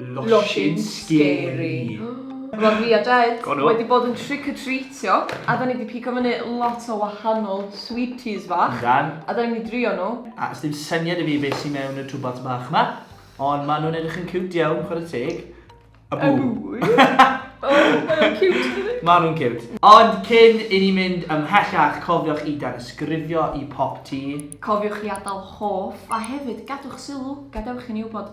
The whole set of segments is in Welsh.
Losin scary. Profiadaeth, wedi bod yn trick or treatio a 'da ni 'di pigo fyny lot o wahanol sweeties fach. Yndan. A 'da ni'n mynd i drio nhw. A sdim syniad 'da fi be sy mewn y twbats bach 'ma, ond ma' nhw'n edrych yn ciwt iawn, chwarae teg. A bŵ! A bŵ, ie! O, mae o'n ciwt yndydi? Ma' nhw'n ciwt. Ond cyn i ni mynd ymhellach, cofiwch i danysgrifio i Pop Tee. Cofiwch i adael hoff, a hefyd gadwch sylw, gadewch i ni wybod.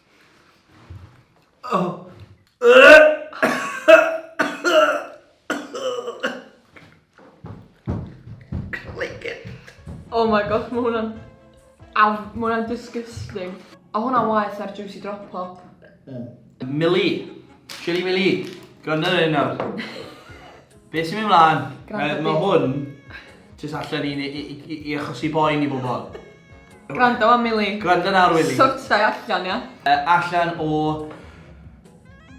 Oh my gosh, mae hwnna'n... Aw, mae hwnna'n disgusting. O hwnna'n waith ar juicy drop pop. Mili. Chili Mili. Gwrando ar hyn nawr. Be sy'n mynd mlaen? Mae hwn jyst allan i, i, i, i achosi boen i bobl. Gwrando am Milly. Gwrando nawr Wili. Sorta i allan ia. Yy allan o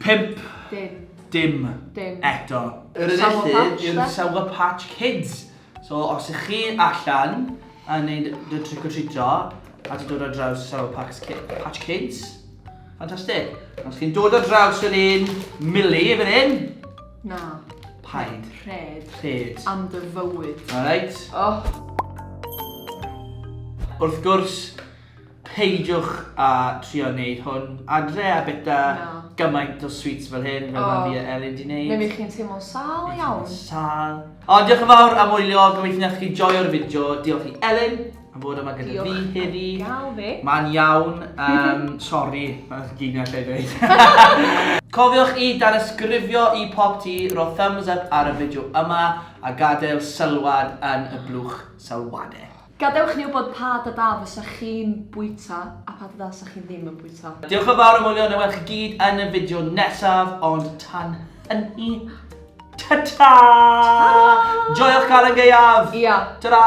pump... Dim. Dim. Dim. Eto. Yr un Sour felly Patch yw'r 'de? Sour Patch Kids. So os ych chi allan yn neud dy trick or treatio a ti'n dod ar draws Sour Pacs Ki- Patch Kids, ffantastig. Os chi'n dod ar draws yr un Milly fan hyn, Na. Paid. Rhed. Rhed. Am dy fywyd. Alright. Oh. Wrth gwrs, peidiwch a trio wneud hwn adre a bita Na. gymaint o sweets fel hyn, fel oh. mae Elin di wneud. Neu chi'n teimlo sal iawn. Sal. O, diolch yn fawr am wylio, gobeithio nes chi joio'r fideo. Diolch i Elin. am fod yma gyda fi heddi. Diolch am gael fi. Mae'n iawn. Um, sorry, mae'n gynio lle i ddweud. Cofiwch i danysgrifio i pop ti, ro thumbs up ar y fideo yma a gadael sylwad yn y blwch sylwadau. Gadewch ni wybod pa da da fysa chi'n bwyta a pa da da fysa chi ddim yn bwyta. Diolch yn fawr am wylio, na welch chi gyd yn y fideo nesaf, ond tan hynny, Ta-ta! Joiwch cael yn gaeaf! Ia. Ta-ra!